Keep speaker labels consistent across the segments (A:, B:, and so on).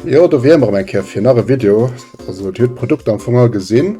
A: Jo do wier mer erëm eng Kéier fir nach e Video. Also Dir hutt d'Produkter am Fong all gesinn.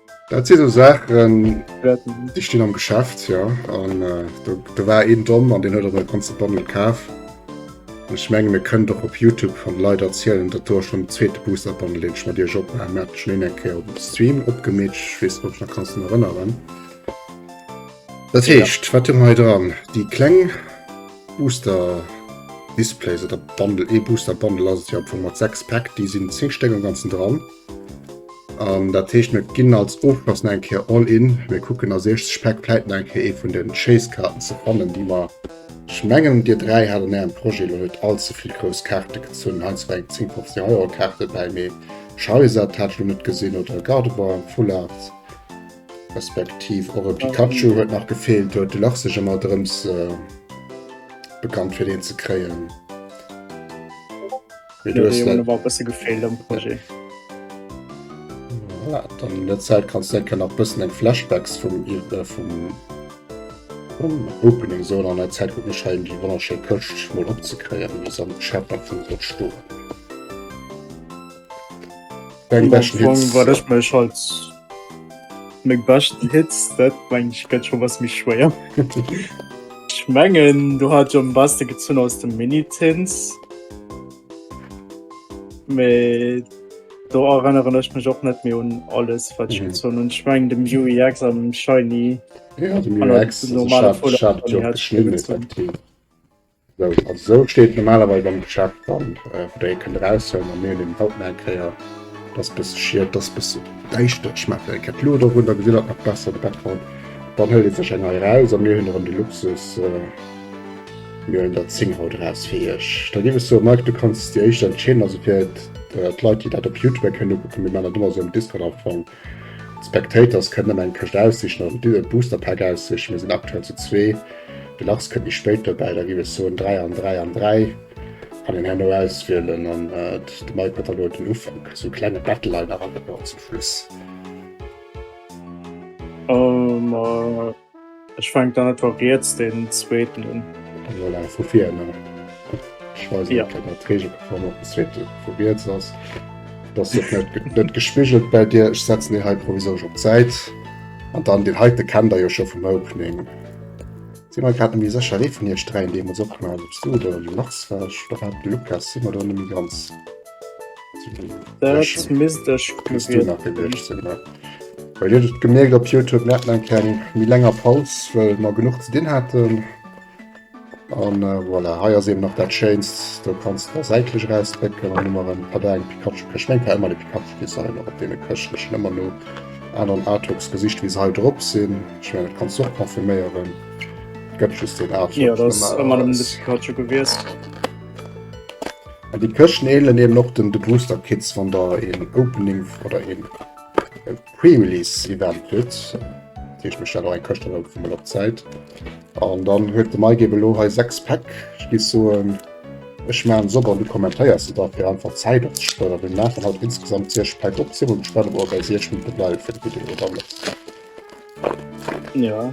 A: Dat si sou Saachen, déi stinn am Geschäft, jo. An do war een domm an deen huet och e ganze Bundle kaf. An ech mengen, et kënnt och op Youtube, wann Leit erzielen, datt do schonn den zweete Booster-Bundle, deen ech mat iech opgemaach hunn, mir haten schonn een eng Kéier op Stream opgemeet, ech weess net, ob du dech nach kanns drun erënneren. Dat heescht, wat hu mer hei dran? Déi kleng Booster-Displays oder Bundle, ee Booster-Bundle ass et jo am Fong mat sechs Päck, déi sinn zéng Stéck am Ganzen dran. An dat heescht mir ginn als Ofschloss nach eng Kéier all in. Mir kucken als éischt Speck vläit nach eng Kéier ee vun den Chase-Karten ze fannen, déi mer ech mengen dir dräi hat an ärem Projet elo net all ze vill grouss Kaarte gezunn. Heinz war eng 10, 15 Euro Kaart dobäi, mee Charizard hat ech lo net gesinn oder e Gardevoir am Full Art, respektiv och e Pikachu huet nach gefeelt. Do huet de Lach sech ëmmer drëms bekannt fir deen ze kréien. der Zäit kann denken nach bëssen eng Flashbacks vum Opening so an der Zäit gu schein déi wonnerschéi Këscht mol opzekréieren bis an Schäffer vun der Sto. Eng
B: Wäsch war dech mech als. Meng beschten Hits, dat mengen ech gëtt scho was méi schwéier. Ech mengen do hat ech am beschte gezunn aus dem Mini-Tins. Mee do erënneren ech mech och net méi un alles wat ech gezunn hunn. Ech mengen dem Yui X an dem Scheini. An der
A: normaler Folie hat ech och geschnidden effektiv. Sou, also sou steet et normalerweis am Geschäft dran, wou der ee kënnt eraushuelen a mir hunn eben haut nach eng Kéier, dass bësse schied, dass bësse däischter, ech maachen eng Kéier d'Luucht erun, da gesitt der et nach besser, de Bertrand, dann huelt ee sech eng hei eraus a mir hunn erëm de Luxus, mir huelen der 10 haut eraus fir iech. Da géif ech soen, Mike, du kanns déi éischt entscheeden, also fir d'Leit déi dat op Youtube keng kënnen ukucken, mir maachen dat ëmmer sou am Discord am Fong, D'Spectators kënnen ëmmer eng Këscht aussichen oder den Duo Booster Pack aussichen. Mir sinn aktuell zu zwee, de Lars kënnt méi spéit dobäi. Da giff ech soen 3 an 3 an 3. Kann een herno auswielen an de Mike huet dann elo den Ufank. Esou e klenge Battle leider an zum Schluss.
B: Ech fänk dann einfach riets den zweeten un. Voilà, vu vir
A: no. Ech weis net, ob dat d'Regeln vum op den zweeten vu riets ass. Et ass och net, net gespigelt bei dir. Ech setzen deen hei provisorisch op d'Säit. An dann deen heiten kennt der jo scho vum Opening. Sinn mer grad net méi sécher, wéi vun iech dräien deemools opgeholl hat, ob s du oder de Lars war. Ech oder war et de Lukas? Sinn mer do net méi ganz. Dat
B: misst ech muss du nach gewiescht sinn
A: ne Bei dir et gemerkt op Youtube net eng keng mi länger Paus well mer genug ze dinn haten an äh, voilà haier se nach dat Chainst do kannst der säitlech rausdrécken an immer en Pader eng Pikachu kech meng war immer de Pikachu bis an op dee Këschte schon ëmmer no aneren Artworks gesicht wie se hei drop sinn ich mein, kannst och konfirméieren gëtt just den Artwork ja, das ëmmer
B: dem Pikachu gewiesst.
A: An déi Këscht neelen eben och den de Booster Kits wann der een Opening oder een Pre-Release Event hutt. Deech mech dat eng Këscht an vu mat op Zäit. An dann huet de Mike eben elo hei 6 Päck. Ech géif soen, ech maan se op an du kommentéiers se da fir einfach Zäit op ze sparen. Mir maachen haut insgesamt 6 Päck op. Si mol gespannt, ob mer bei 6 Minutte bleiwe fir de Video oder net.
B: Ja.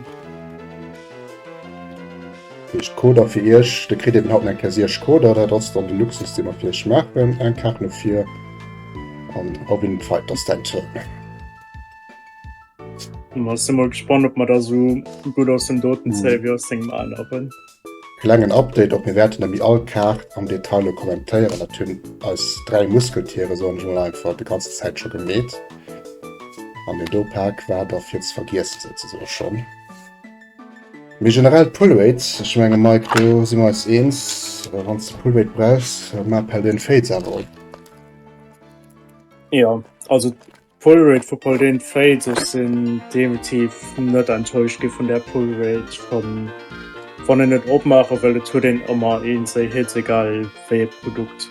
A: Iech Coder fir Iech, de kritt eben haut eng Kass Iech Coder, dat ass dann de Luxus, dee mer fir Iech maachen. Eng Kaart no vir an Robin den Fight, ass däin Tour. Hm,
B: ass emol gespannt, ob mer da sou gutt aus dem Doten zéie wéi aus dengem aneren. Klengen
A: Update op, mir wäerten nemmi all Kaart am Detail lo kommentéieren, dat hunn eis 3 Muskeltiere, soen ech mol einfach, de ganzen Zäit scho gemeet, an den Dopak war da fir ze vergiessen souzesoen schonn. Mee generell d'Pullrate, ech menge Mike, do si mer eis eens, wann s de Pullrate brauchs, ma pell deen Féiz awer op.
B: Jo, also Pullrate vu Paul den Fate ech sinn definitiv net enttäuscht gi vun der Pullrate von wann en net opmache well et huet een ëmmer een sei Hit egal wéi e Produkt.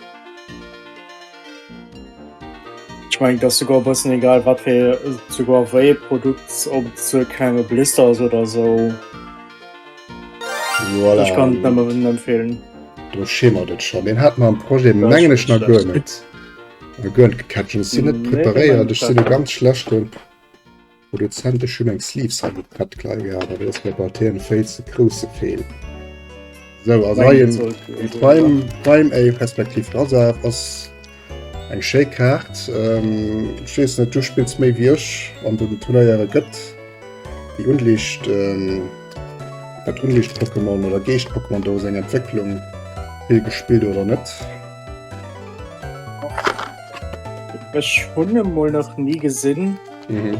B: Ech meng dass sogar e bëssen egal wat fir sogar wéi e Produkt op ze klenge Blister ass oder esou.
A: Voilà. Ech kann et nëmmen
B: empfehlen. Do schimmert
A: et schonn. Deen hat mer am Projet mengen ech nach guer net. Eng Girl Catchers sinn net preparéiert, ech sinn e
B: ganz
A: schlechten Produzent, ech hunn eng Sleeves hei net prett gleich gehat, dat ass mir bei TN Fails e grousse Feel. Sou a neien Prime Prime A respektiv Razaf ass eng schéi Kaart, ech weess net, du spills méi wéi ech an den Turnéiere, gëtt déi Unliicht dat Unliicht Pokémon oder Geescht Pokémon do seng Entwécklung vill gespillt oder net?
B: Ech hunn e mol nach nie gesinn.
A: Mhm.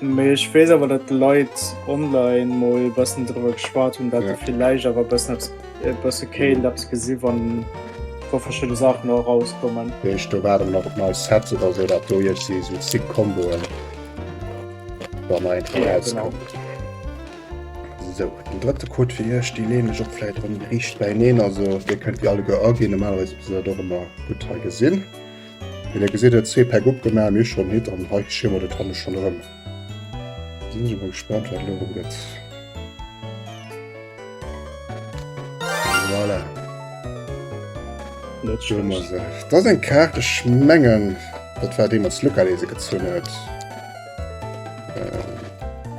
A: Mee
B: ech weess awer, datt Leit online mol bëssen driwwer geschwat hunn, datt se villäicht awer bëssen eppes, e bësse kéint eppes gesi wann wa verschidde Saachen och erauskommen. Weess do waren nach
A: nei Sets oder sou, dat do iech si sou Sick-Komboen, wann nach eng Fro Ja, genau. rauskommt. Sou, den drëtte Code fir iech, dee leen ech och vläit erëm riicht bäineen, also dir kënnt déi alleguer aginn, normalerweis misst der dat och ëmmer gutt hei gesinn. Wéi der gesitt, huet zwee Päck opgemaach, mir hu schonn hitt an hei schie mer dat hanne schonn erëm. Sinn ech emol gespannt wat elo erëm gëtt. Voilà.
B: Net schlecht. Dat ass
A: eng Kaart, ech mengen dat war déi mat Lucca, déi se gezunn huet.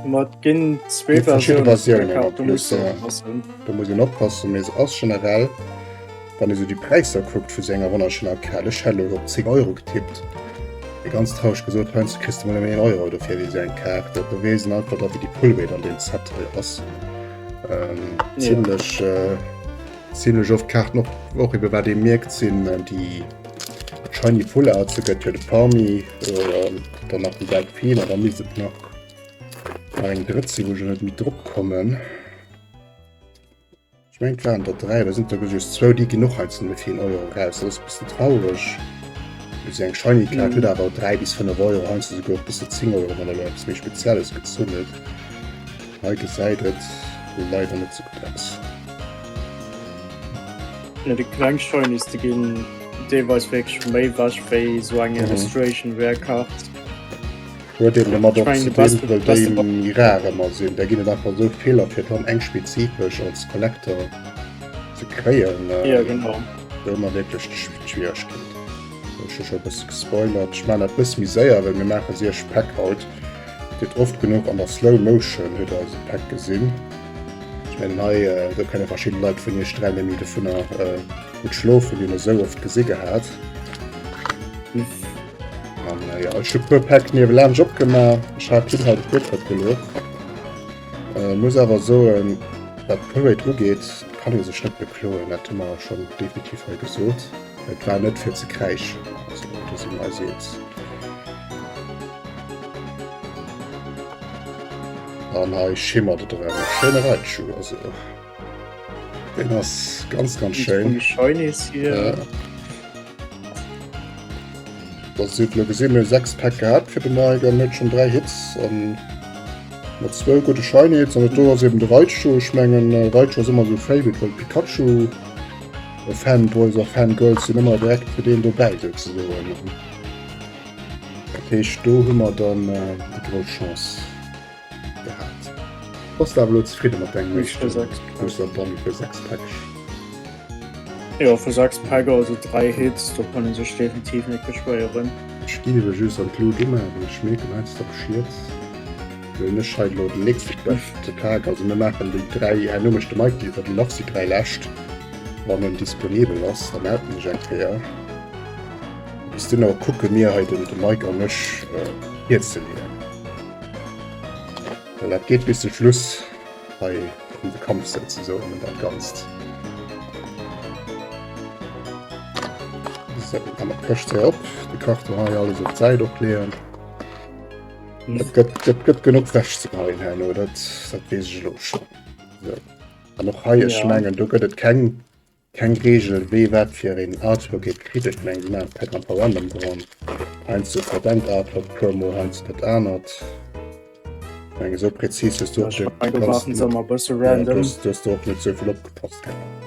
B: Mat ginn zwee
A: Versiounen.
B: Do
A: muss een
B: oppassen,
A: mee se ass generell, wann ee sou déi Präisser kuckt vu sou enger Wonnerschlaf Kal, ech hätt elo op 10 Euro getippt, mee ganz traureg gesot, heiansdo kriss de mol nëmmen een Euro dofir fir sou eng Kal. Dat beweist en einfach da wéi déi Pullwéit an deem Set hei ass. Zimlech, zimlech oft d'Kaarten och, och ebe wat ee mierkt sinn déi shiny Full Artse, gëtt jo de Pawmi. Dann nach die gelb Fehler, da miss et nach nach eng drëtt sinn, wou ech net méi drop kommen. Ich mein waren der drei, da sind der just zwou, déi ginn och heizen fir een Euro raus, dat ass e bëssen traureg. Wéi se eng shiny Kaart huet awer drei bis fënnef Euro, heizen se souguer bis zu zéng Euro, wann der lo eppes méi Spezielles gezunn huet. Hei gesäit et leider net sou gutt aus.
B: Fir de kleng shiny ze ginn, dee weist wierklech méi ewech wéi esou eng Illustration Rare Card.
A: Huet eben domat och ze dinn, well déi
B: méi rar ëmmer
A: sinn. Da ginn et einfach esou vill a fir dann eng spezifesch als Collector ze kréien, huet
B: ëmmer wierklech
A: d'Schwieregkeet. Ech hu scho e bësse gespoilert. Ech maachen dat e bësse méi séier, well mir maache siech Päck haut. Gëtt oft genuch an der Slow Motion huet der eise Päck gesinn. Ech mengen hei do kënne verschidden Leit vun iech dräi Nämmi dovunner gutt schlofen, déi een esou oft gesi gehat. Jo ech hu puer Päck niewelaanscht opgemaach, ech hat dunn hei de Fuertrëtt geluecht. Muss awer soen wat d'Parade ugeet kann ee sech net bekloen, dat hu mer schonn definitiv hei gesot. Et war net fir ze kräischen, also do si mir eis eens. An hei schimmert et erëm. Schéine Reitschuh, also deen ass ganz, ganz schéin. Dat seet lo gesinn, mir hu 6 Päck gehat fir de Mike an huet schonn 3 Hits an mat zwou gudde Shiny Hits. An do ass eben de Reitschuh, ech mengen Reitschuh ass ëmmer esou e Favorite, well Pikachu. Fanboys a Fangirls sinn ëmmer direkt fir deen dobäi do ze soen. Dat heescht do hu mer dann déi grouss Chance gehat. Bass de awer elo zefridde mat dengem éischte Booster
B: Bon fir
A: 6 Päckeg?
B: Jo, fir 6 Päck, also 3 Hits, do kann ee sech definitiv net beschwéieren. Ech gi ewech just
A: an d'Lut umachen, ech schmeeken heiansdo Schied. Hun ech hei lo den nächsten Quest ze Tag, also mir machen déi 3 herno mecht de Mike déi iwwer déi Lachs déi 3 läscht wann en disponibel ass da melden ech eng Kéier. Bis dunner kucke mir hei den de Mike an ech Bier ze leeën well dat geet bis zum Schluss hei um de Kampf souzesoen un dat ganzt. Sou an der Këscht hei op de Karton hei alles op d'Säit och leeën. Dat gëtt genuch wäch ze geheien herno, dat wees ech elo scho. An och hei ech mengen do gëtt et keng keng Reegel wéi wat fir een Artworket kritt. Ech meng si maache Pack an Paul Allen dran. Heiansdo ass dat engt Artwork d'Promo, heiansdo dat anert. Ech menge sou prezis hues du och
B: net, du hues do och net
A: souvill opgepasst gehat.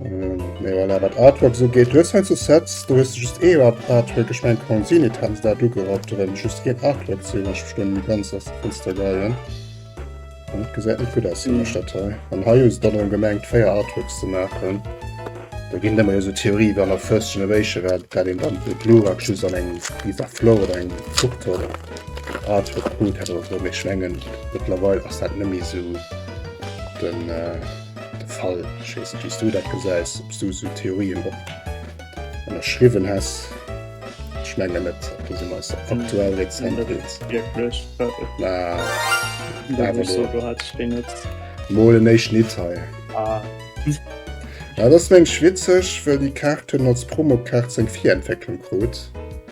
A: Mewer awer d'Artwork sou geet hues hei zu Sets, do hues du just eeër Artwork geschmengt kann sinn, et hat dat ugerappt oder just een Artwork sinn, ech verstoen net ganz ass Fënster geien. An et gesäit net gutt aus sinn ech dat hei. An hei hues dann erëm gemengt 4 Artworks ze maachen. Da ginn ëmmer jo sou Theorie iwwer an der First Generation, well dat een dann de Glurak just an engem Piece of Flow oder engem Foto oder Artwork krut hätt oder sou, mee ech mengen, mëttlerweil ass dat net méi sou den. De Fall, ech weess net, wéi s du dat gesäis, ob s du esou Theorien op ënnerschriwwen häss. Ech menge net, ob du se eis aktuell rezent deels.
B: Mä awer elo emol en éischten
A: Hit hei. Dat ass mengs witzeg, wëll déi Kaart hunn als Promokaart seng Virentwécklung krut.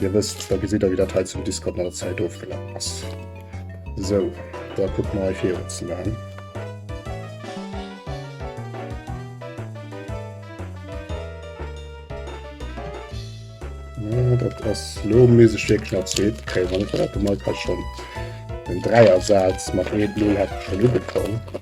A: Dir wësst, da gesitt der, wéi dat hei zum Discord mat der Zäit ofgelaf ass. Sou, da kucke mer hei virun ze maachen. Dat ass lo méisseg wierklech nach Zäit. Okay, wann et dat emol ka schonn den Dräiersaz mat Red Bull hätt scho lude komm.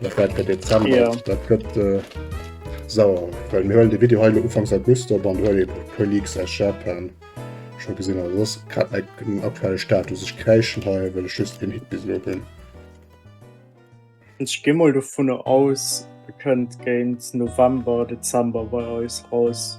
A: Dat war der Dezember. Ja. Dat gëtt äh, sauer. Well mir huelen de Video heile Ufangs August op an huel e puer Leaks aus Japan scho gesinn. Also ass grad net den aktuelle Status. Ech kräischen hei, well ech just een Hit bis elo hunn.
B: Ech gi mol dovun aus, e kënnt géint November, Dezember bei eis raus.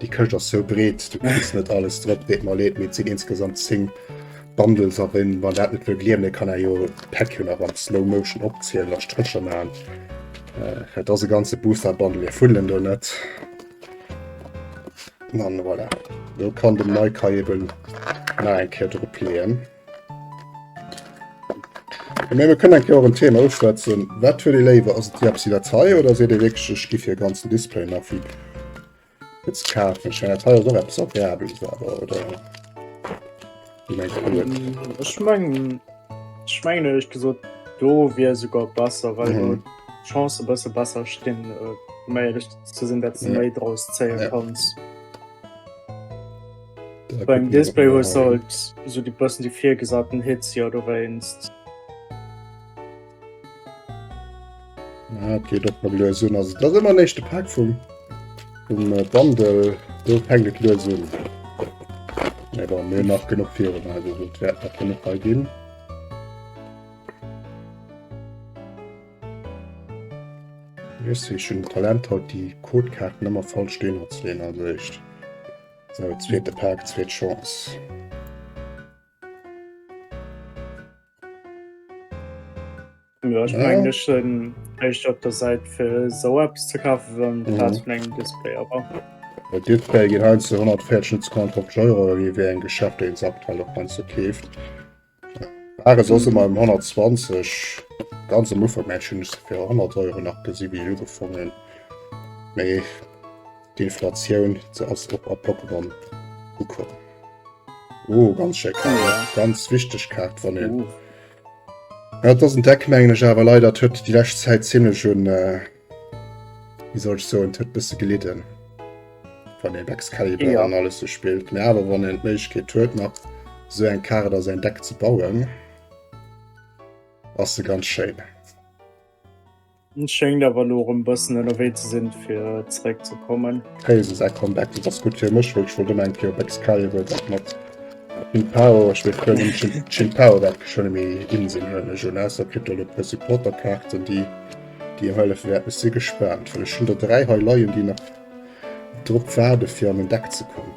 A: Déi Këscht ass sou breet, du kriss net alles drop, deet mer leed, mee et sinn insgesamt 10 Bundles a wéi mer dat net wëll gleewen, dee kann är jo d'Päck jo nach an Slow Motion opzielen a Strécher maachen. Äh, et ass e ganze Booster Bundle, mir fuddelen do net. An voilà, do kann den Mike eben nach eng Kéier dropleeën. Mee mir kënnen eng Kéier och en Thema uschwätzen. Wat huet ee léiwer? Ass et déi Absidatei oder seet ee wierklech, ech giff hir ganzen Display nach wéi Jetzt kaufe ich ja teil doch etwas Agreables, aber oder?
B: Ich meine, ich meine, ich meine ehrlich gesagt, do wäre sogar besser, weil mhm. die Chancen besser besser stehen, äh, mehr ehrlich zu sein, dass du ja. mehr draus zählen ja. kannst. Da Beim Display hast du halt so die besten die vier gesagten Hits ja du weinst.
A: Ja, et geet och mat lues un. Also dat ass ëmmer den éischte Pak vum vum äh, Bundle. Do fänkt et lues un. Nee, bon, mir nach genug virun, also dat wäert nach genug bei ginn. Just wie schon Talent haut die Codekarten immer voll stehen hat zu also echt. So, zweite Pack, zweite Chance.
B: Ja, ich mein, ich bin echt auf der Seite für so etwas zu kaufen, wenn mhm. das mein Display aber. Der Display
A: geht halt zu 114 Sekunden auf Euro, wie wir ein Geschäft, den es aktuell auch ganz so käft. War es also mal 120, ganz am Ufer, Menschen ist für 100 Euro nach gesehen, wie ich gefunden. Nee. D'Inflatioun se ass och a Pokémon ukomm. Oh ganz schéck Kaart, ganz wichteg Kaart wann een. Ja, dat ass en Deck mengen ech awer leider huet déi lescht Zäit ziemlech un äh, wie soll ech soen, huet bësse gelidden. Wann een Excalibur ja. an alles so spielt. Mä
B: awer
A: wann een d'Méiglechkeet huet nach so eng Kaart a säin Deck ze bauen, ass se ganz schéin.
B: Schéngt awer lo rem bëssen ënnerwee ze sinn fir zeréck ze kommen. Kayse säi Comeback,
A: dat ass gutt fir mech, well ech wollt ëmmer eng Kéier op Excalibur, dat mat Qin Pao, ech weess guer net ob Qin Pao dat geschwënne méi in sinn, huelen ech un, ausser et kritt der elo e puer Supporter Kaarten déi déi em hëllefe wäerten, ech si gespaant, well ech hunn der 3 hei leien déi nach drop waarde fir an en Deck ze kommen.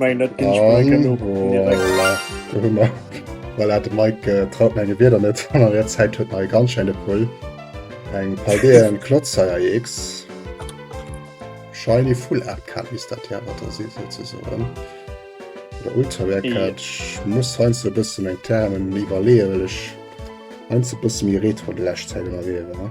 B: Meng dat ginn ech mei genug direkt. Voilà, do hu
A: mer. Voilà, de Mike äh, traut menge Wierder net. An der Zäit huet nei ganz schéine Pull. Eng Paldeen Klotzheier X. Shiny Full Art Card misst dat ja wat da si souzesoen. Oder Ultra Rare Card. Yeah. Ech muss heinz e bëssen eng Termen iwwerleeën, well ech heinz e bësse méi Retro de lescht Zäit ënnerwee war.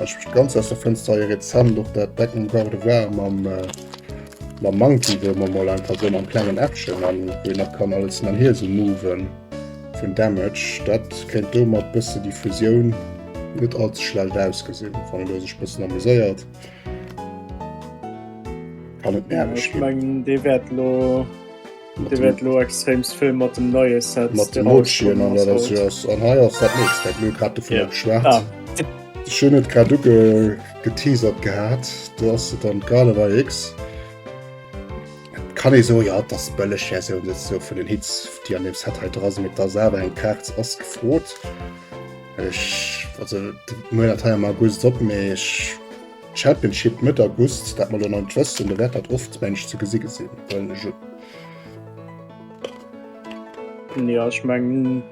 A: Ech mech ganz aus der Fënster hei rezent och dat Back and Garde war mam mam Monkey, wou mer mol einfach sou mam klengen Äppchen an wou een nach kann alles mam Hiel sou moven vun Damage. Dat kéint do mat bësse Diffusioun net all ze schlellt ausgesinn. Fannen do sech bëssen amuséiert an et nerveg ginn.
B: Dir wäert lo extreemst vill mat dem neie Set mat de Motion an dat ass jo ass an hei ass dat nächst dat mir grad de
A: vun geschwert. Ah. Schön net grad du ge geteasert gehabt du hast du dann gerade bei X kann ich so ja das bëlle ja so net so vun den Hitz die an dem Set halt dras mit der selber eng Kerz ass gefrot Ech also Mo mal August op méi Championship Mëtt August, dat mer elo nach net wëssen, do wäert dat oft mensch ze gesi gesinn, well ech et. Jo,
B: ech mengen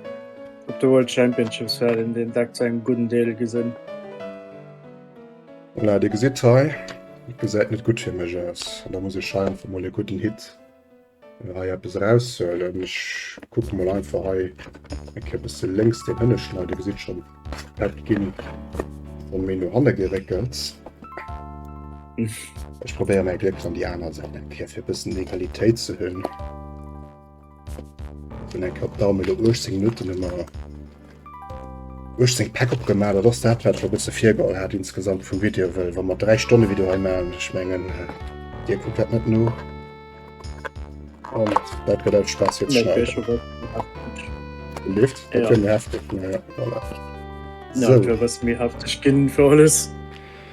B: op de World Championships wäert een deen Deck zu engem gudden Deel gesinn.
A: Voilà, Dir gesitt hei, et gesäit net gutt fir mech aus, an da muss ech hei einfach mol e gudden Hit. hei eppes erauszehuelen. Ech kucke mol einfach hei eng Kéier e bësse lénks deen hënneschten. Dir gesitt schonn, dat ginn schonn méi no hanne geréckelt. Ech probéiere mäi Gléck an déi aner Säit eng Kéier, fir e bëssen Egalitéit ze hunn. Hunn eng Kéier op d'Daumen do 18 Minutten ëmmer. Hu ech seng Päck opgemaach, dat ass dat wat ech och bësse virgeholl hat insgesamt vum Video, well wa mer 3 Stonne Video hei maachen, ech mengen dir kuckt dat net no an dat gëtt alt Spaass fir ze schneiden. Leeft dat jo méi hefteg, mä voilà.
B: Sou. Dofir ass et méi hefteg ginn fir alles.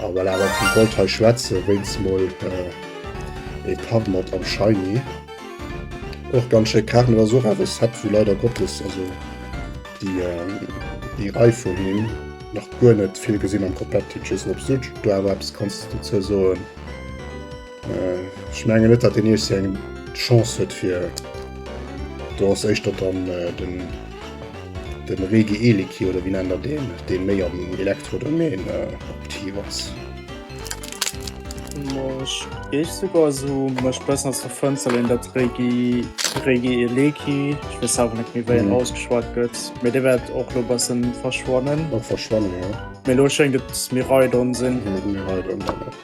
A: Ah voilà, wat ech wollt hei schwätzen, wéinst mol ee Par mat am Shiny. Och ganz schéi Kaart, mee dat ass och awer e Set wou leider Gottes, also déi Rei vun him, nach guer net vill gesinn am Competitive, just op Switch, do awer eppes kanns dozou soen. Ech mengen net, datt deen Iechsi eng Chance huet fir do ass éischter dann äh, den, den Regi Eliki oder wien ännert deen, deen méi am Elektrodomain äh, aktiv ass.
B: Mech géif souguer esou mech bëssen ass der Fënster leen, dat Regi, Regi Eleki, ech weess awer net méi wéi en ausgeschwat gëtt, mee dee wäert och lo bëssen verschwannen. Och verschwannen, ja.
A: Mee lo schéngt et
B: Miraidon sinn. Miraidon, ja.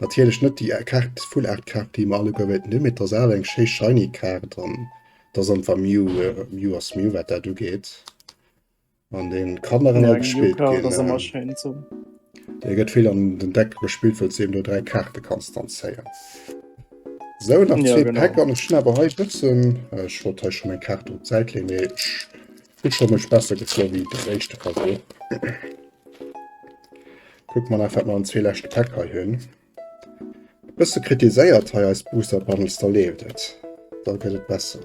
A: Natierlech net déi Kaart, Full Art Kaart déi mer alleguer wéilten hunn, mee d'Rosale, eng schéi shiny Kaart an dass einfach Mew Mew ass Mew wat dat ugeet an dee kann nach ëmmer gespillt ginn. Dee gëtt vill an den Deck gespillt wëll s de eben do 3 Kaarte kanns dann zéien. Sou nach zwee Päck an ech hunn awer hei e bëssen, ech wollt hei schonn eng Kaart op d'Säit leeën, mee ech hunn schonn mech besser gefrot wéi deen éischte Versuch. Kucke mer nach wat mer an zwee leschte Päck hei hunn. Bësse kritiséiert hei eis Booster Bundles, da leeft et, da gëtt et besser.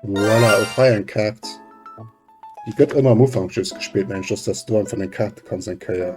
A: Voilà, och hei eng Kaart. Déi gëtt ëmmer am Ufank just gespillt, mengen ech, dass dass du einfach deng Kaarte kanns eng Kéier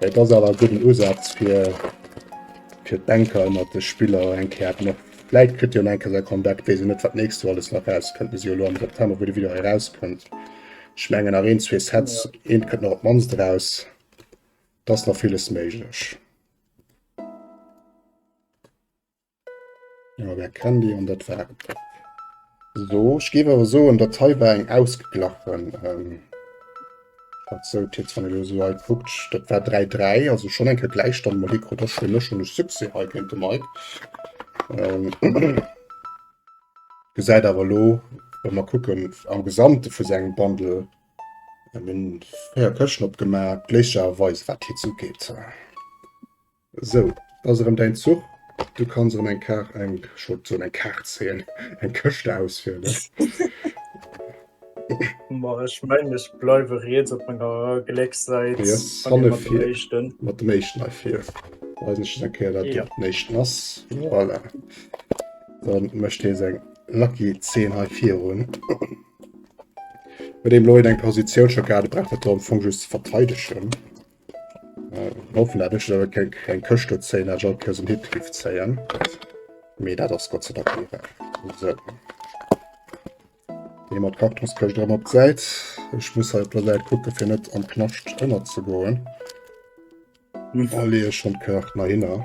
A: Et ass awer e gudden Usatz fir fir d'Bänker ënnert de Spiller eng Kéier haten och vläit kritt hien enke säi Comeback, weess een net wat d'nächst Joer alles nach erauskënnt. Mir si jo elo am September, wou de Video hei erauskënnt. Ech mengen nach een, zwee Sets, eent kënnt nach op d'mannst eraus. Et ass nach villes méiglech. Ja, wer kennt déi an dat war et dach. Sou, ech géif awer soen, datt hei war eng ausgeglachen Partie. Dat heescht, wann ee lo sou hei kuckt, dat war 3, 3, also schonn eng Kéier Gläichstand. Mä hie krut och schonn elo genuch Succès hei géint de Mike. Gesäit awer elo, wa mer kucken am Gesamte vu sengem Bundle, mir hunn 4 Këschten opgemaach, gléchlecherweis, wat d'Hitze ugeet. Sou, et ass erëm däin Zuch. Du kanns erëm eng Kaart, eng, ech wollt soen eng Kaart zéien, eng Këscht auswielen.
B: Ma ech mengen, ech bleiwe riets op menger Gléckssäit. Du hues hanne fir mat dem éischten hei vir. Weisen ech just eng Kéier, dat
A: dat den éischten ass. Voilà. Da mécht hie seng lucky Zeen hei virun. Huet een elo en eng Positioun scho gehat, et brauch dat do am Fong just ze verteidegen. Hoffen dat ech da keng keng Këschte zéien, dat ech all Kéiers en Hit giff zéien. Mee dat ass Gott sei Dank nie wahr. So. Dee mat Kartonskëscht erëm op d'Säit. Ech muss hei op der Säit kucke fir net am Knascht ënnerzegoen. An da leeë ech schonn d'Këscht nach hinner.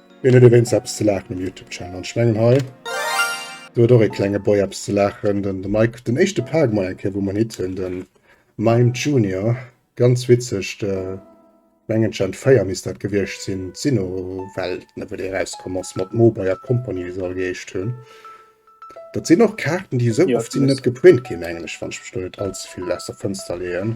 A: Ween huet ewéinst eppes ze laachen um Youtube Channel? An ech mengen hei do huet och ee klenge Boy eppes ze laachen, den de Mike, den éischte Park mei eng Kéier wou mer en Hit hunn, de Mime Junior, ganz witzeg, de mengen Gen 4 misst dat gewiescht sinn, d'Sinowelt ne wou dee erauskomm ass mat Mowbray a Company wéi se all geheescht hunn. Dat sinn och Kaarten déi esou oft sinn net geprint ginn mengen ech, wann ech mech do net allzevill aus der Fënster leeën.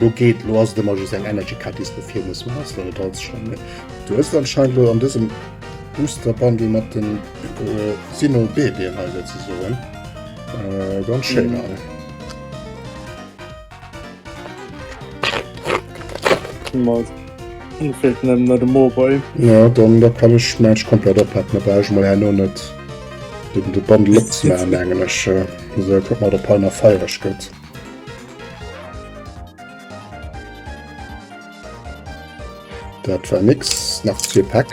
A: Lo geet, lo ass et ëmmer just eng Energy Card déi s de vir muss maachen, wann et als schon méi. Du hues anscheinend lo an dësem Booster Bundle mat den Sino Bebien hei souzesoen. Äh, ganz schéin all. Mol. Mir feelt nëmmen
B: no dem Mowboy. Ja, dann da
A: kann ech mäin komplett oppacken, da brauch ech mol herno net de Bundle opzemaachen, mengen ech. Esou, kuck mol, datt hei nach feiereg gëtt. Dat war nix nach zwee Päck.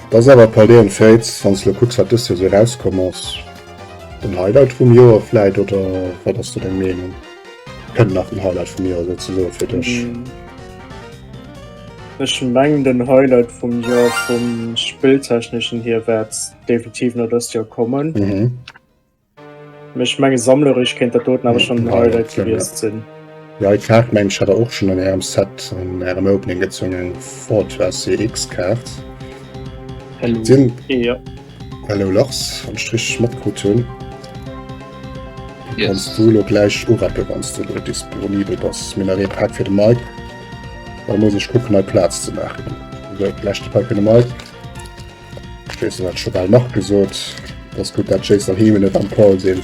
A: Dat ass awer Paldean Fates, wanns du kucks wat dës Joer sou rauskomm ass. Den Highlight vum Joer vläit oder wat ass do deng Meenung? Kënnt nach den Highlight vum Joer souzesoe fir dech?
B: Ech mengen den Highlight vum Joer vum Spilltechneschen hier wäert definitiv no dëst Joer kommen. Mhm. Mee ech menge sammlerech kéint dat doten awer schon den Ja, Highlight ja. gewiesst sinn. Ja, et war
A: mensch hat er och schon an ärem Set an ärem Opening gezunge Fortress CX Kaart.
B: Hello. Sinn Ja. Hello
A: Lars, wann ech richteg matkrut hunn,
C: kanns du elo
A: gläich urappen, wann s de elo disponibel bass. Mir hunn nach ee Pak fir de Mike, da muss ech kucken hei Plaz ze maachen. Esou, leschte Pak fir de Mike. Ech weess, dat hat scho bal Marc gesot, dass gutt dat Jayce an Heme net am Call sinn.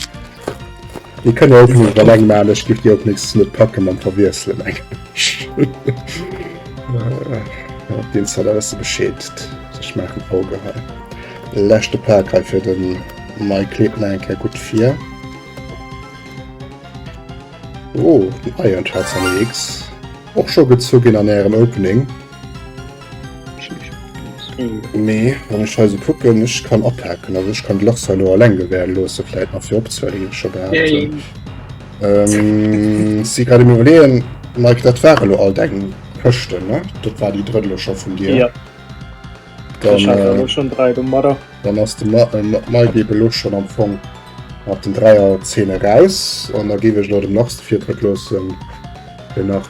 A: Dir kënnt jo och net iwwer leng maan, ech giff dir och nächstes net packe mam verwiesselen eng Deen Zella ass ze beschädigt, ech maachen Auge hei. Leschte Pak hei fir den Mike, kleet mer eng Kéier gutt vir. Oh den Iron Schätz an EX och scho gezu ginn an ärem Opening. Mee wann ech hei sou kucken, ech kann abhaken, also ech kann d'Lachs hei lo alleng gewähren loossen, vläit nach fir opzehuelen, wéi ech scho gehat hunn. Ähm, si grad am iwwerleeën, Mike, dat ware lo all deng Këschten, ne? Dat war déi drëtt lo scho vun dir? Ja, Dann, ech hat der äh, lo schonn dräi
B: domadder. dann ass de Ma-
A: äh, Ma- Mike eben lo schon am Fong mat den 3er 10 eraus an da géif ech lo dem Lachs de Virtritt loossen, fir nach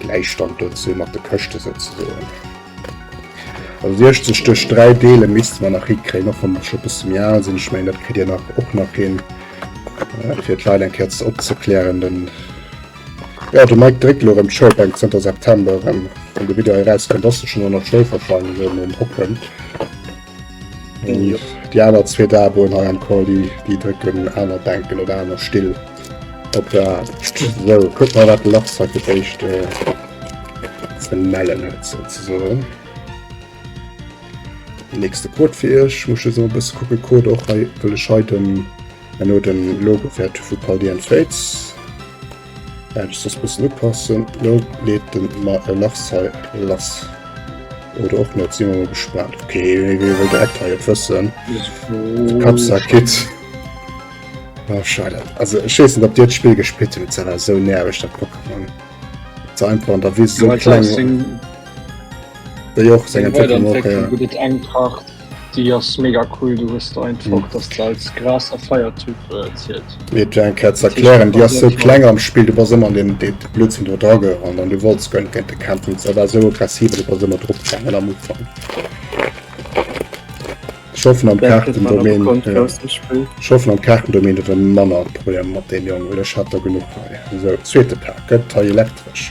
A: Gläichstand dozou mat de Këschte souzesoen. Also 60 duerch 3 deele misste mer nach hikréien, och wann ech scho e bësse méi al sinn. Ech mengen, dat kritt Dir nach och nach hin, fir d'Leit eng Kéier ze opzeklären. Den, jo, de Mike dréckt elo erëm d'Schoulbänk zënter September erëm. Wann de Video erauskennt, ass se schonn ënner Schnéi verfall, wéi en erëm opkënnt. Déi aner zwee Daboen hei am Cordy, déi drécken aner Bänken oder aner Still op der Aart. So, kuck mal, wat de Lachs hei fir d'éischt äh, ze mellen huet, souzesoen. Den nächste Code fir iech, muss ech esou e bësse kucke, Code och hei, wëll ech hei den, herno den Logo fäert hu vu Cordy and Fates. Hätt ech soss mussen upassen, lo leet en mer e lass hei, lass oder och net, sin mer mol gespaant. Ok, wéi wëll de Ecto jo wëssen, de Kappsack Kit. Oh scheide, also ech weess net op dir d'Spill gespillt hutt, dat ass esou nerveg dat Pokémon, dat se einfach an der Wis esou kleng. Wéi och seng Entwécklung och.
C: Déi ass mega cool, du hues der einfach dass der als graser Feiertyp zielt. Mir et eng Kéier ze
A: erklären, déi ass sou kleng am Spill, du bass ëmmer an deem dee Blödsinn do dra gerannt an du wollts guer net géint de kämpfen, se war sou aggressiv an du bass ëmmer drop gaangen am Ufank. Ech hoffen am Kaartendomaine,
B: ech hoffen am Kaartendomaine
A: huet e manner Problemer mat deem Jong, well ech hat der genuch hei. Esou, zweete Pak gëtt hei elektresch.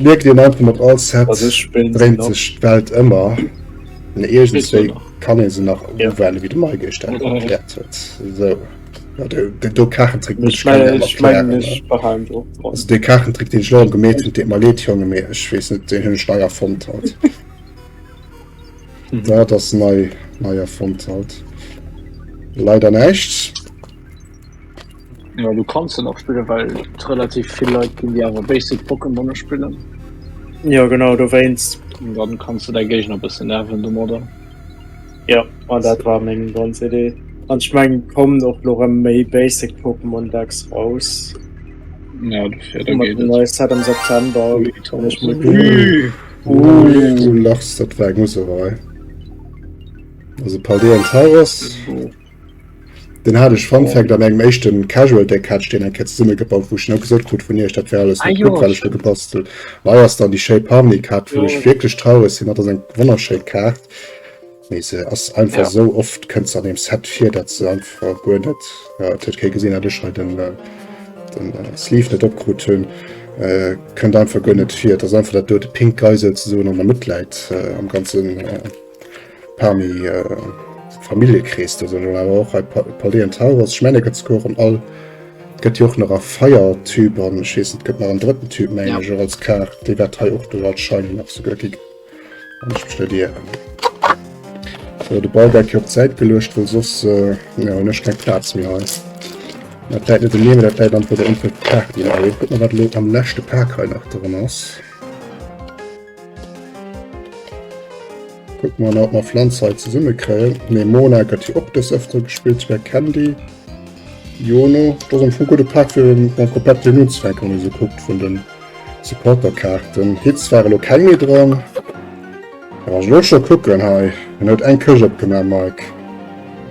A: Mierkt dir einfach mat all Set Also ich bin dreht noch.
B: sech d'Welt
A: ëmmer. Den Bisschen Egentéi nach.
C: kann ee se
A: nach
C: Ja.
A: uwelle wéi de Mai
B: gestern
A: Mhm. erkläert huet.
C: So.
A: Ja, de, de, do Kachentrick muss Ich ich kann meine, net ich meine, erklären. ne?
B: ich behalten so. Also de Kachentrick deen ech
A: lo gemeet hunn, deet mer leed Jonge, mee ech weess net, deen hunn ech nei erfonnt haut. Mhm. Dat ass nei, nei erfonnt haut. Leider näischt.
C: Ja du kannst den och spillen, well relativ viel Leute gin die awer basic Pokémone spillen. Ja genau
B: do wéinst. Und dann kannst du dei
C: Géigner bëssen nerven domadder. Ja
B: an dat war meng ganz Idee. An ech mengen kommen och lo rem méi basic Pokémon Decks raus. Ja
C: dofir da geet et. Set am
B: September. Ui
A: du lachs, dat war eng Userei. Also Paldean Tauros. Den hat ech Fun Fact an engem eischten Casual Deck hat den eng Cat zesummen gebaut wou ech genau gesot krut vun iech dat wär alles net gutt wat ech do gebastelt. Hei ass dann die Shape Harmony Kaart wou ech wierklech traureg sinn, dat ass eng wonnerschéin Kaart mee se ass einfach esou oft kënnt se an deem Set vir dat se einfach guer net, et huet kee gesinn dat ech hei den Sleeve net opkrut hunn, kënnt einfach guer net vir. Et ass einfach dat dote Pink Geisel ze soen an der Mëtt läit am ganzen. Parmi äh, Familiekrees do sinn awer och hei Paléen Tauros, Schmänneketzkoch an all gëtt jo och nach a Feiertyp an ech weess net gëtt nach en drëtten Typ méi ja. jo als Kaart, déi wat hei och do als Schein nach souguer gi studieren. So, de Ball geit jo op d'Säit geluecht, well soss äh, ja, hun ech keng Platz méi hei. Dat läit net de Neemen, dat läit an der Info Kaart. Guck mal wat lo am leschte Park hei nach dran ass. Kucken mer emol, ob mer Pflanze hei zesumme kréien. Nee, Mona gëtt jo och des Ëftere gespillt, souwäi Candy. Jono, dat ass am Fong e gudde Pak fir mam Kopett hien unzefänken, wann ee sou kuckt vun den Supporterkaarten. Hits war elo keng méi dran. Kann ech elo scho kucken hei? Hien huet eng Kësch opgemaach, Mike.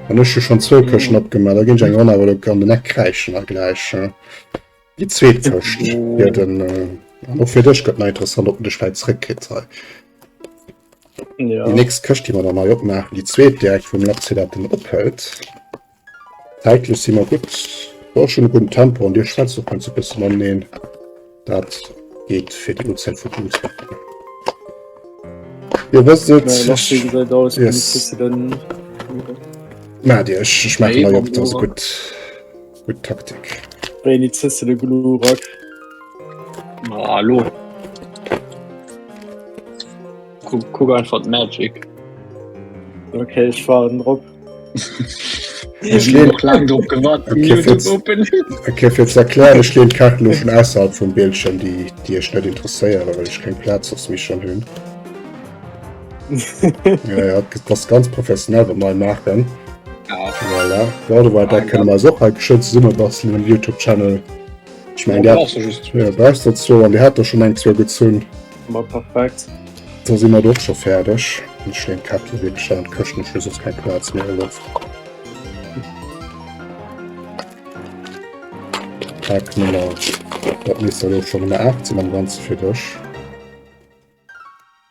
A: An ech hu schonn zwou Këschten opgemaach, da ginn ech eng Ronn awer elo an den Eck kräischen hei gläich. Die zweet Fëscht fir den an och fir dech gëtt nei interessant op de Schwäiz zréckkrit sei. Ja. Die nächst Këscht die man dann
B: nei
A: opmachen, die zweet direkt vum Lapsi dat den ophält. Zäitlech si mer gut war schon guten Tempo an Dir schwätzt och ganz e bëssen an neen. Dat geht fir die Uhrzeit vu Blut. Dir wësst et Äh, lass wie gesagt aus, Yes.
B: yes. du den.
A: na Dir ech schmecken Nee, op dat se warum? gut. Gutt Taktik. Wéini zësse
B: de Glurak?
C: Ah, lo. Kuck, kuck einfach d'Magic.
B: Okay, ich war drop.
A: Ich leen lang drop
C: gewarnt.
A: Okay,
C: fir ze
A: erklären, ech leen Kaart lo vun ausserhalb vum Bildschirm, déi Dir ech net interesséieren, well ech keng Plaz ass méi schon hunn. ja, ja, das ganz professionell bei mal machen ja.
C: voilà. ja,
A: war da können man auch halt schön summe basteln im youtube channel ich meine der dazu
C: und
A: die hat doch schon ein zwei gezogen
B: perfekt da sind wir doch
A: schon fertig und schön kap schon köchten schluss ist kein platz mehr läuft Tag Nummer dat mis schon 18 am ganz fir dech.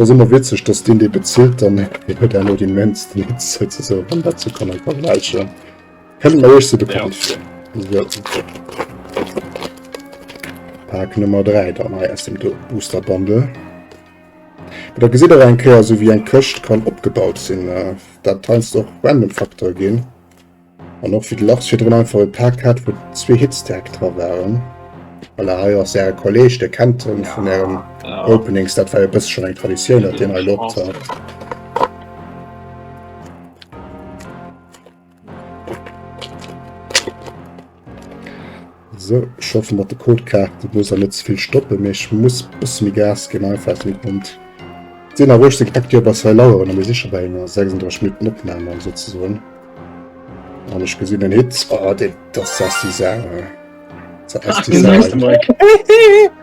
A: Ass emmer witzeg dass deen dee bezilt dann deen huet herno dee mennsten Hit souzesoen wann dat sou kann en vergläichen. Kënnt mer iech sou bekannt vir? Pack Nummer 3 dann hei aus dem Booster Bundle. Mee da gesitt och eng Kéier sou wéi eng Këscht kann opgebaut sinn. Dat heiansdo och random Facteur ginn. An och fir de Lars virdrun einfach e Pack hat, wou zwee Hits direkt dra waren. Voilà, hei ass Äre Kolleeg, Dir kennt en vun Ären Openings, dat war e bësse schonn eng Traditioun, datt deen hei loopt hat. Sou, ech hoffe mat de Codekaarten muss ech net ze vill stoppen, mee ech muss e bësse méi Gas ginn einfach wéi d'Mond. 10 Auer 18 gepackt, jo bas hei laueren a mir si scho bei enger 36 Minutten Opnam an souzesoen. An ech gesinn en Hit, oh deen, dass ass déi Sau, hä? Dass ass déi Sau.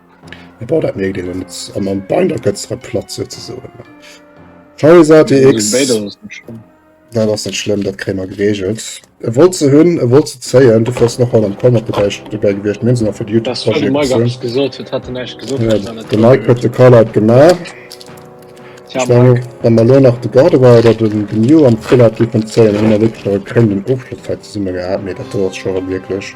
A: Ja, boah, dat mierkt een an, an, an Binder gëtzt der Platz sozusagen. VS ATX. Ja, das ist nicht schlimm, das kriegen wir geregelt. Er wollte sie hin, er wollte sie zeigen, du fährst nochmal am Comment dabei, dabei gewesen, wir sind noch für die YouTube. Das war der Mike, hab's gesagt,
C: das hat er nicht gesagt. Ja, der Mike hat
A: den Call out gemacht. Ja, ich meine, wenn wir nur noch den Garde war oder den, den New am Full hat, die von zeigen, haben wir wirklich noch einen Aufschluss zusammen gehabt, nee, das war schon wirklich.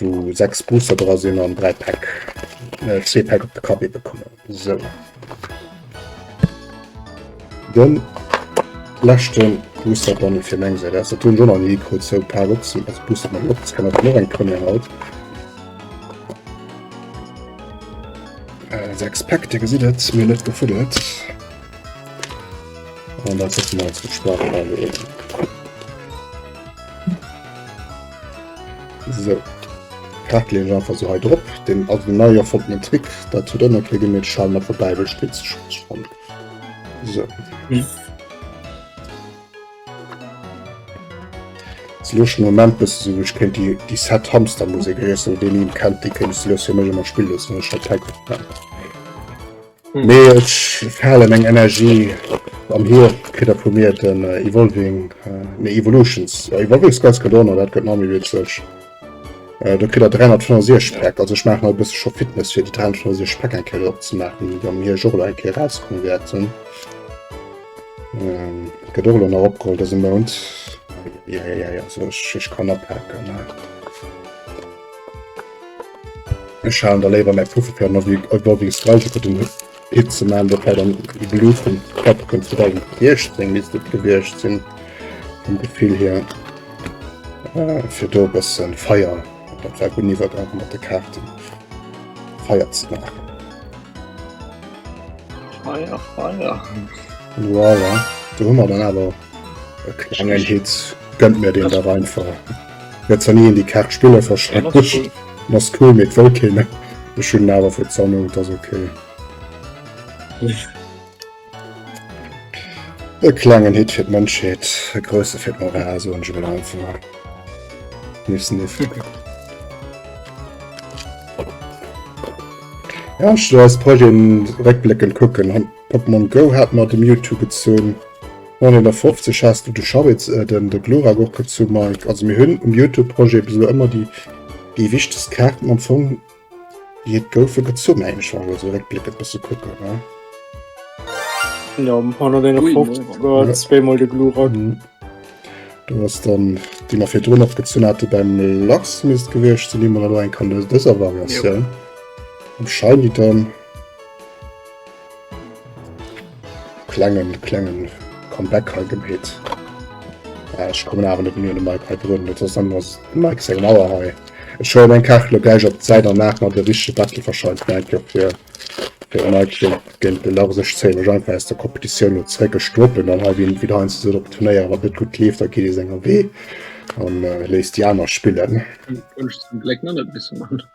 A: wou 6 Booster dra sinn an 3 Päck äh, zwee Päck op de Kapp ebe kommen. So. Den lächten Booster dann fir meng Säit ass. Dat hunn schon an nie krut zou paar Boxen als Booster man op. Das kann op mor eng Premier haut. Äh, 6 Päck, Dir gesitt et, mir net gefuddelt. An dat setzen wir als Gespart an. So, dat leen ech einfach so hei drop. Den also den neier fond den Trick, dat zu dënner kriegen mir Schall mat der Bäibel spitz fand. So. Hm. Luch Moment bis so ich kennt die die Set Hamster Musik den kennt die kennst du immer spiel Nee, ech falen eng Energie an hier kritt er vu mir den äh, Evolving, äh, nee, Evolutions. Äh, Evolving ist ganz Kadona, dat gëtt nach méi witzeg. Äh, do kritt er 365 Päck, also ech maachen halt e bësse scho Fitness fir déi 365 Päck eng Kéier opzemaachen, déi am hier Jour eng Kéier rauskommen wäerten. Ähm, gëtt och elo nach opgeholl dëse Mount. Ja, ja, ja, also ech, ech kann apaken. Äh. Ech halen da léiwer mäi Puffer fir mat e Gogging Streiche fir den Hit ze man, dat war dann de Blue vum Top vun 2018 misst dat gewiescht sinn vum Gefill hier, fir do e bësse Feier, dat war gutt iwwert einfach mat de Kaarten Feier ze maachen.
C: Feier, Feier.
A: Voilà, do hu mer dann awer e klengen Hit. Gönnt mir deen dach einfach. Jetzt han ien déi Kaart spiller verständigt. En ass cool mee et wëll keen. Ech hunn en awer fir d'Sanne, et ass ok. E klengen Hit fir d'Mënschheet, e grousse fir d'Moral, soen ech emol einfach. Sniff, sniff. Ja, ech will eis Projeten réckbléckend kucken. Pokémon Go hat mer de Mewtwo gezunn. 950 has du de Scharitz den de Glurak och gët zu Mike. Also mir hun um Youtube Projet bis elo ëmmer déi déi wichtest Kaarten am Fong déi et goufe gezunn mengen ech wann ech elo sou réckbléckend bësse kucken ne. Jo 151 war
B: zwee mol de Glurak.
A: Do ass dann déi mer virdrun och gezunn hate beim Lachs misst gewiescht sinn déi mer elo eng kann aus dëser Variatioun. Jop. Um Shiny dann. Klengen klengen Comeback hei gemeet. Äh, ech kommen awer net mir de Mike hei drun, net ass dann ass Mike seng Mauer hei. Ech hol eng Kachel gläich op d'Säit an nach mat e richege Battle verscheidt Mike jo fir fir de Mike géint géint de Lars. Ech zéie mech einfach aus der Competitioun elo zréck. Ech droppen dann hei wien wien heiansdo sot op de Turnéier, Wann et net gutt leeft, da geet ee senger Wee an léisst déi aner spillen.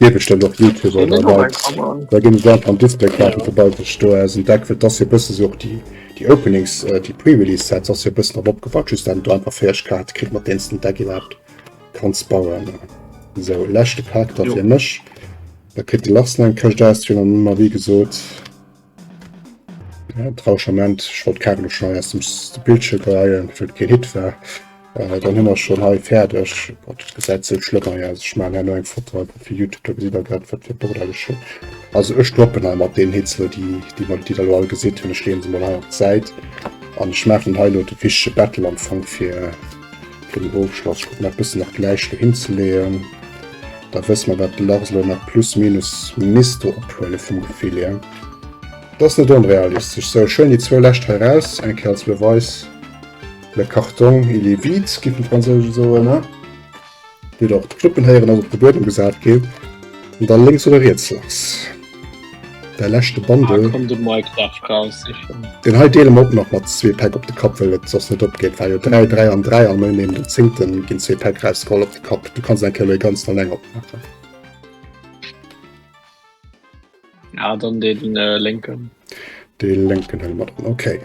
A: Gee bestëmmt och Youtuber oder Leit da ginn esou einfach am Display Kaarten vu Baldur's Gate do aus an Deck well dass jo bëssen esou och déi déi Openings déi Pre-Release Sets ass jo bëssen drop opgebaut just dann do einfach feiereg Kaarte kritt mat deenen s den Deck iwwerhaapt kanns bauen esou leschte Pak da fir mech da kritt de Lars nach eng Këscht aus fir an ëmmer wéi gesot. Ja, Tranchement, ech wollt Carlo schon aus dem Bildschirm geheien, fir et keen Hit war. Äh, dann hun mer schon hei färdeg. Gott, et gesäit sou schlëmm hei aus. Ech man hei emol eng Foto einfach fir Youtube, da gesitt der grad wat fir e Bordel ech hun. Also ech droppen hei mat den Hits elo déi, déi mer, déi der elo all gesitt hun. Ech leeën se mol hei op d'Säit an ech maachen hei elo de Fichier Battle am Fong fir, Fir den Ofschloss, ech kucken dat bëssen nach gläich dohin ze leeën, da wësse mer wat de Lars elo nach plus minus misste ophuele vum Gefill hier. Dat ass net onrealistesch. Sou, schwéin déi zwou lescht hei raus, eng Kéier als Beweis, le carton il est vide, géifen d'Fransousen soen, ne? Déi der op d'Knuppen héieren ass op de Buedem gesat ginn an da lénks oder riets lass. Däi leschte Bundle.
C: Deen hei deele mer och
A: nach mat zwee Päck op de Kapp, well et soss net opgeet. War jo 3, 3 an 3 an ouni den zéngte ginn zwee Päck erausgeholl op de Kapp. Du kanns eng Kéier elo ee ganzen an eng opmaachen.
C: Dee
A: lénken helle mer dann. Okay.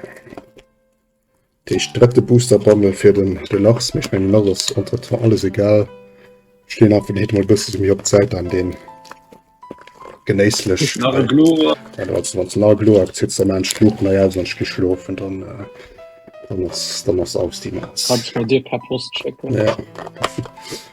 A: Deeg drëtte Booster Bundle fir den Deluxe, mee ech mengen lasst ass entre temps alles egal. Ech leen einfach den Hit mol bësse méi op d'Säit an deen genéisslech Glo akzit ze man Schluucht nei aus an gi schlofen dann dann ass dann ass aus déi Matz. Bei dir per Post
C: schécken.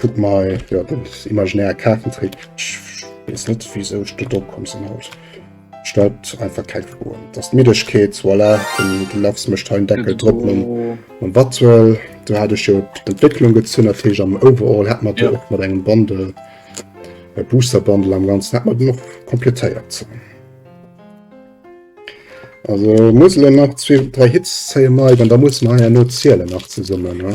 A: Guck mal, ja, den imaginäre Kartentrick. Ich weiß net, wieso ich do komm sinn haut. Stellt einfach keine Froen. Das ist Middegkeet, voilà, den, den Lachs mischt einen Deckel drüber und, und was soll. Da hatte ich ja die Entwicklung gezogen, natürlich am Overall hat man ja. da auch mit einem Bundle, äh, Booster Bundle am Ganzen, hat man noch komplettiert. Also muss ich noch zwei, drei Hits zählen, dann da muss man ja nur zählen nach zusammen. Ne?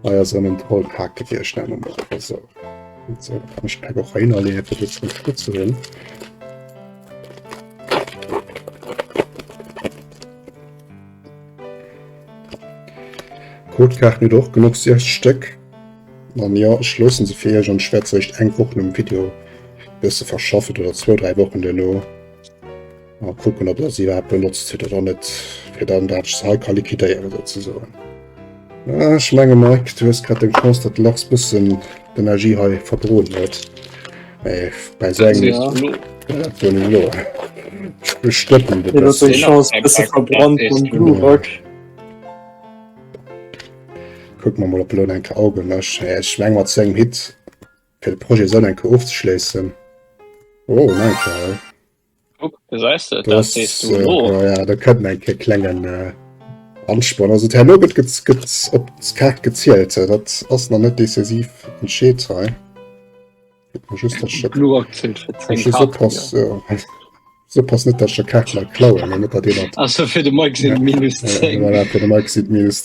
C: Hei ass erëm en
A: Talk Hack gefir ech nennen esou. Esou kann ech d'Pack och heinerleeën fir se ze ënnerstëtzen. D'Codekaarten huet och genuch 6 Stéck. An jo, ech loosse se fir Iech an ech wäert se eréischt eng Woch nom Video e bësse verschaffen oder zwou, dräi Wochen duerno. A kucken op der se iwwerhaapt benotzt gëtt oder net, fir dann dat just hei ka liquidéieren souzesoen. Ah, ech menge Mike, du hues grad eng Chance, datt de Lachs bëssen d'Energie hei verbroden huet. Mee bei sou engem. Ja,
B: dat wëll elo. Ech
A: bestëppen de bëssen. Eng Chance
B: bësse verbrannt vum Glurak.
A: Kuck mer mol op elo enke Auge mech. Ech meng mat sengem Hit fir de Projet Sënn enke ofzeschléissen. Oh, Mike.
C: da können ein
A: ke klengen äh, ansporn also her no gëtt gëtt gëtt op kart gezielt äh, dat ass na net decisiv entscheet hei just so pass net der kar klauen net dat
C: fir de maxi
A: minus minus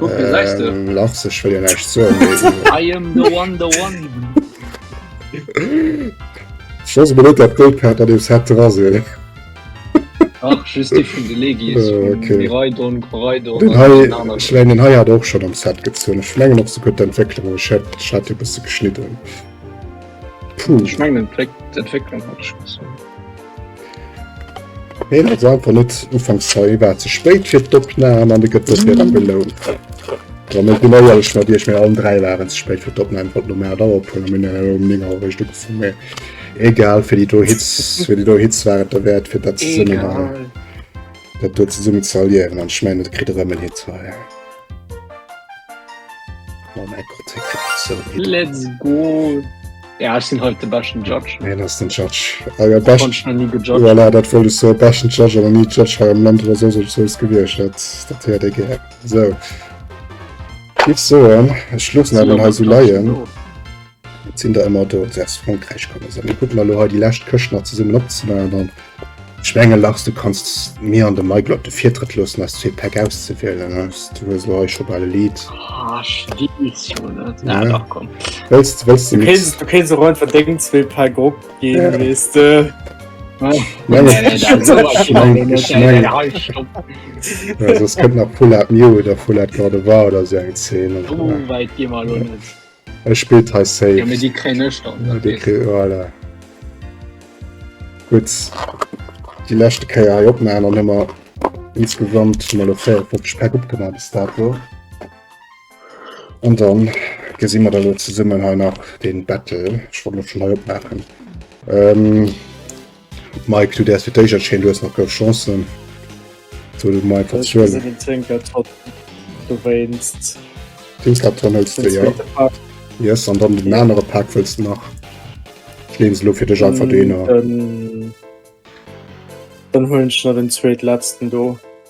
C: Ähm, lachs ech will nächt
A: so Schoss be dat Gold hat dat dees hat ra se Schlein den Haiier doch schon am Set gezun Schlengen op se gut Entwicklung hat bis geschnitten. Puh, ich mein,
C: Entwicklung hat
A: Heen huet se einfach net ufanks zeil war ze spéit fir d'Opnahm an de gëtt dofir dann belount. Wa net genau ehrlech mat Iech, mir allen 3 waren ze spéit fir d'Opnahm, wat normal da ophol mir hunn elo um 9 Auer eréischt ugefu mee egal fir déi do Hitz fir déi do Hitz war et der Wäert fir dat zesummen hei dat do zesummen ze erliewen an ech mengen et kritt erëm en Hit hei ja. Oh mäi Gott hie kritt et esou hin. Let's go!
C: Ja, ech sinn haut de beschten Judge. Wien
A: ass den Judge? Ah, ja, best... Konsch na
C: ni gejudged. Voilà, dat wollt ech so
A: besten Judge oder nie Judge hei am Land oder so sech soos gewircht dat dat hört ik gär. So. Giff soen, ech schlussen Sinn awer hei so mat Judge leien. do. Jetzt sinn der ëmmer do, se aus Frankräich kommen. So, mir kucken elo hei déi lescht Këscht nach zesummen opzemaachen an Ech menge Lars, du kanns mir an de Michael op de Virtrëtt loossen aus zwee Päck auszewielen. Du hues lo hei scho bal e Lidd. Ah,
C: ja.
A: Wëlls
C: du keen
A: se run
B: verdéngen zwee Päck op ginn
A: wees de. Sos kënnt nach Pull Up Mio oder Full Out Garde war oder se eng Zeen.
C: Ech spillt
A: hei safe. Ja, mir die kréien ech
C: dann. Ja, die kréien, voilà.
A: Gut. Die letzte Kéier hei opmachen, dann haben wir insgesamt schon mal 54 Päck opgemacht bis dato. Und dann gesehen wir da lo zesummen hei nach den Battle. Ich wollt schon hei opmachen. Ähm, Mike, du däers fir d'éischert schéin, du hues nach gouf Chancen. Soll du mer einfach Ech zuelen? gesinn den Zwinker
B: trotz du wéinst Dingslatern
A: hëls den du jo. zweete Pack. Yes, an dann den Ja. anere Pak wëlls du nach. Ech leen se lo fir dech einfach do hinner. Dann,
B: dann huelen ech nach den zweetletzten do.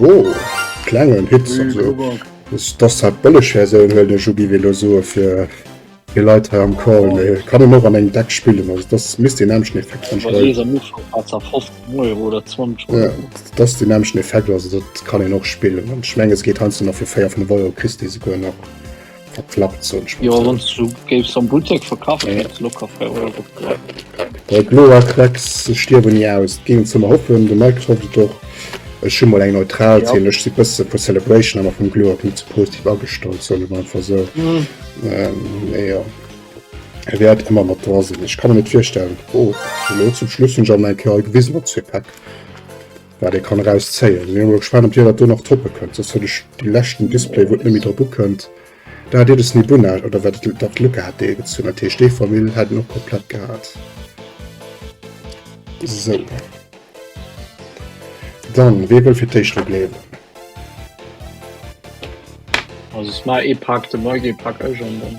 A: Oh, klengen Hit dass hat bëlleg Versioun well de Jugi Velo soe fir fir Leiit ha am Call méi kann en och an eng Deck spillen ass dass miss den Äm schnee
C: dass den
A: Äm
C: schnee
A: fe dat kann en och spillen an schmenges geet han nach fir 4 vun de Wall Christi se goen nach. verklappt so ja, du
C: gest am Buttek verkaufen
A: ja. locker Klecks stirwen nie aus gegen zum hoffen du merkst hoffe ich doch es schon mal eng neutral ja. ich die beste für celebration aber vom Glo nicht zu positiv abgestalt so man so mhm. ähm, ja. er wird immer mal da sind ich kann mir nicht feststellen oh, zum Schluss schon mal gewissen zu packen Wat ee kann eraus zéien. Mir hu gespaant op dir dat do nach toppe kënnt, soss huet ech déi leschten Display wou et net méi drop ukënnt dat iert es Nibuna oder wat et dat Lücke hat dee gezunn hat, heescht dee Famill hat en och komplett gehat sou. Dann wee wëll fir d'éischt regléieren?
C: Also smile ee paakt de Mike ee pak ech an dann.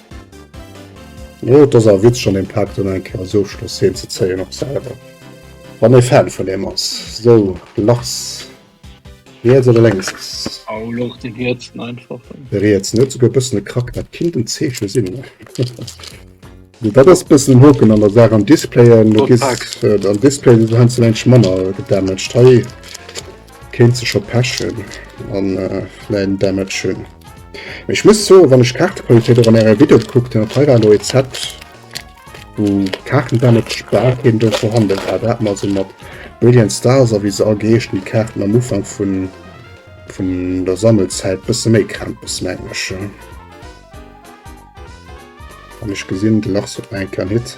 A: Oh et ass awer Witz schon den Paak dann eng Kéier als Ofschloss heen ze zéien op selwer wann ee Fan vun him ass. Sou Lars riets oder lénks ass? Oh Lars den
C: rietsen einfach. De rietsen huet souguer
A: e bëssen e Krack, dat kinnt en Zeeche sinn. Sou dat ass e bëssen en Hoken an der Saach am Display, an Display ass et heiansdo eng Tëch manner gedamaged hei. Kéint se scho pechen an vläit en Damage hunn. Mee ech muss soen, wann ech d'Kaartequalitéit och an ärer Video gekuckt hunn, dat hei war elo ee Set, wou Kaartendamage bal keen do vorhanden war. Do hat mer also mat Brilliant Stars a wéi se all geheeschen, déi Kaarten am Ufank vun vun der Sammelzäit bësse méi Krämpes, mengen ech. An ech gesinn, de Lars huet nach eng Kéier en Hit.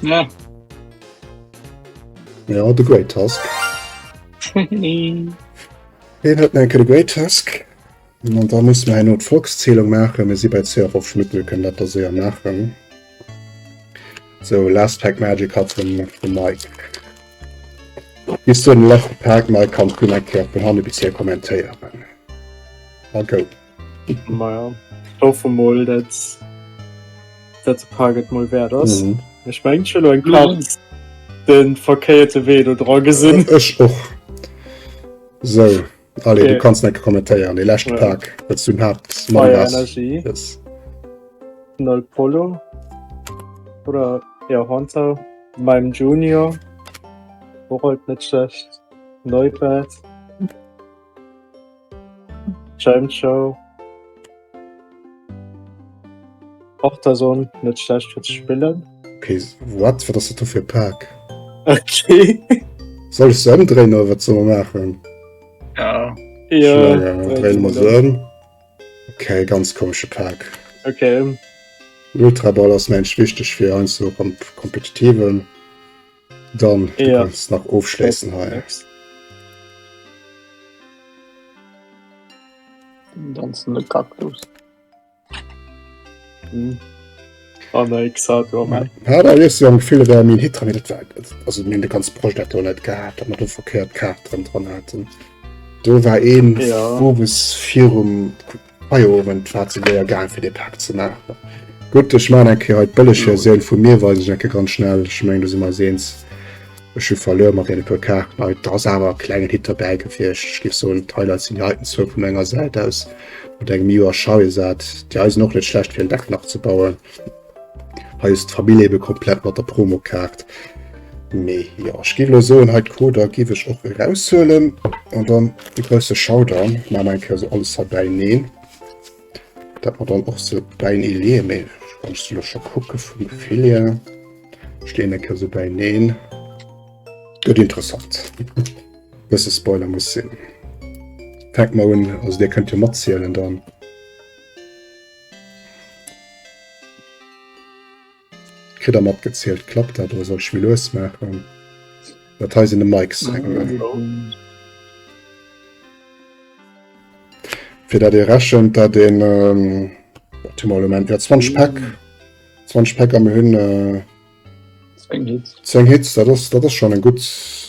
A: Ja. Ja, de Great Tusk. Heen huet enke de Great Tusk. An da muss mer en not Volkszählung maachen, mir si bei 2 a 5 Minutten, mir kënnen dat da séier maachen. So, last pack magic hat vum vum Mike. Bis du den letzten Tag, Mike, kannst du nach eng Kéier vun hanne bis hier kommentéieren. A go.
B: Maja hoffe mol dat dat Park et mol wert ass. Mhm. Ech meng schon
A: eng
B: Kla mhm. den verkéierte Wee do dra gesinn. Ech och
A: so Alle okay. du kannst net kommentéieren
B: de
A: lächte Park wat du
B: hat
A: Nol
B: Polo oder ja, Honter meinem Junior wo net schlecht Neu. Schein Show. Och der Sonn net schlecht fir ze spillen. Okay,
A: wat wat ass dat do fir e Pak? Okay.
B: Soll
A: ech se ëmdréinen oder wat soll mer maachen?
C: Ja. Ja,
B: dréi dréine mer se se ëm.
A: ëm. Okay, ganz komesche Pak. Okay.
B: Ultraball
A: ass mensch wichteg fir heiansdo am Kompetitiven. Dann ja. nach ofschleessen ha.
C: Ganzen
B: de Kaktus. Hm. Oh, nein, gesagt, oh, nein.
A: Ja, da ist ja ein Gefühl, wer mir Hit dran hat. Also, mir den ganzen Projekt auch nicht gehabt, aber du verkehrt Karte dran, dran hatten. Du war ein, ja. wo es
B: vier
A: um Hei Owend war et sou séier gaang fir dee Pak ze maachen. Gutt, ech maachen eng Kéier hei d'bëlleg Versioun vun mir, weisen ech eng Kéier ganz schnell, ech mengen do si mer eis eens, ech hu verluer mat deene puer Kaarten hei, et ass awer e klengen Hit dobäi gewiescht. Ech géif soen d'Highlights sinn déi heiten zwou vu menger Säit aus, mat engem Iu a Schei esat, déi hei sinn och net schlecht fir en Deck nach ze bauen. Hei ass d'Famill eben komplett mat der Promokaart. Mee jo, ech géif elo soen, hei d'Coder géif ech och eraushuelen an dann e grousse Showdown maachen. Eng Kéier sou alles hei bäineen, dat mer dann och se bäinee leeën. Mee ech kann se elo scho kucke vum Gefill hier. Ech leeën eng Kéier sou bäineen. Gëtt interessant. E bësse Spoiler muss sinn. Fänkt mar un, also Dir kënnt jo matzielen dann. Kritt der matgezielt, klappt dat oder soll ech méi lues maachen? Dat hei sinn de Mikes. Fir dat ee rechent, dat een ähm, warte mol, elo mengen ech, jo 20 Päck, 20 Päck a mir hunn äh, Zéng Hits, dat ass, dat ass schon eng gutt,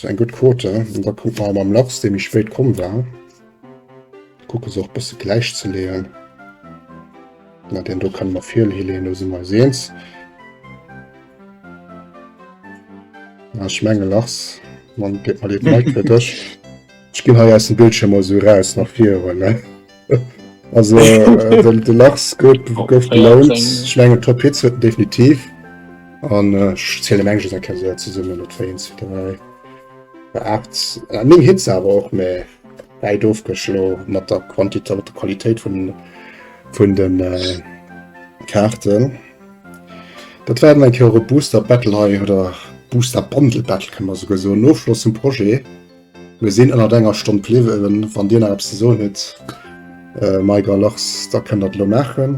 A: eng gutt Quote. An da kucke mer mam Lachs, dee méi spéit komm war, kucke se och e bësse gläich ze leeën. Na, deen do kënne mer virleeën, do si mer eis eens. A ech menge Lachs, dann gib mer dee Mic fir dech. Ech ginn hei aus dem Bildschierm emol esou eraus, nach vir erëm, ne? Also äh, den, den Lachs gouf gouf gelount. Ich menge Top Hits huet definitiv. An äh, ich zähle Menge se kann se zesummen net wéin zu dräi. Bei 8 äh, Ning Hits awer och méi wäit ofgeschlo mat der Quantitéit mat der Qualitéit vun vun den äh, Karten. Dat werden eng Euro Booster Battle hei oder Booster Bundle Battle kann man sogar so Nofloss zum Projet. Mir sinn ënnert enger Stonn bliwwen. Wann Dir nach eppes ze soen hutt, Mike a Lars, da kënnt Der et elo maachen.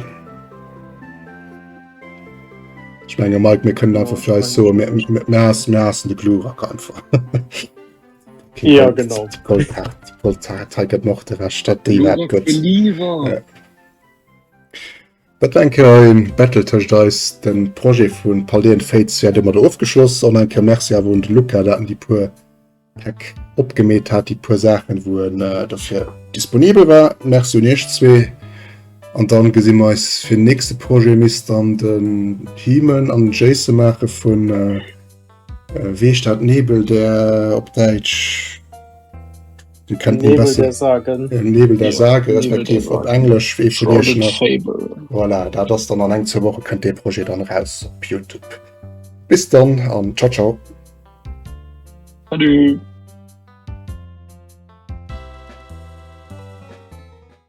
A: Ech menge Mike, mir kënnen einfach fir eis soen, mir, mir, mir haassen, mir haassen de Glurak einfach. Okay,
B: Ja, Gold- genau. Gold hart, Gold
A: hart. Hei gëtt nach de Rest, dat déi wat Glurak gëtt. believer. Ja. Dat war eng Kéier e Battle tëscht eis. De Projet vu Paldean Fates wäert ëmmer do ofgeschloss. Och nach eng Kéier Merci awer un de Luca, dat en déi puer Päck opgemeet hat, déi puer Saachen, wou en dofir disponibel war. Merci un iech zwee an dann gesi mer eis fir nächste Projet. Misst dann den Himen an den Jayce maache vun. Äh, wéi dat Nebel der op Däitsch kennt Nebel besser, der sagen
B: äh, Nebel der Sage
A: respektiv op Englisch wéi vu Dir schon
C: voilà, dat
A: ass dann an eng zur Woche kënnt dee Projekt dann raus op Youtube. Bis dann an ciao ciao. Salut.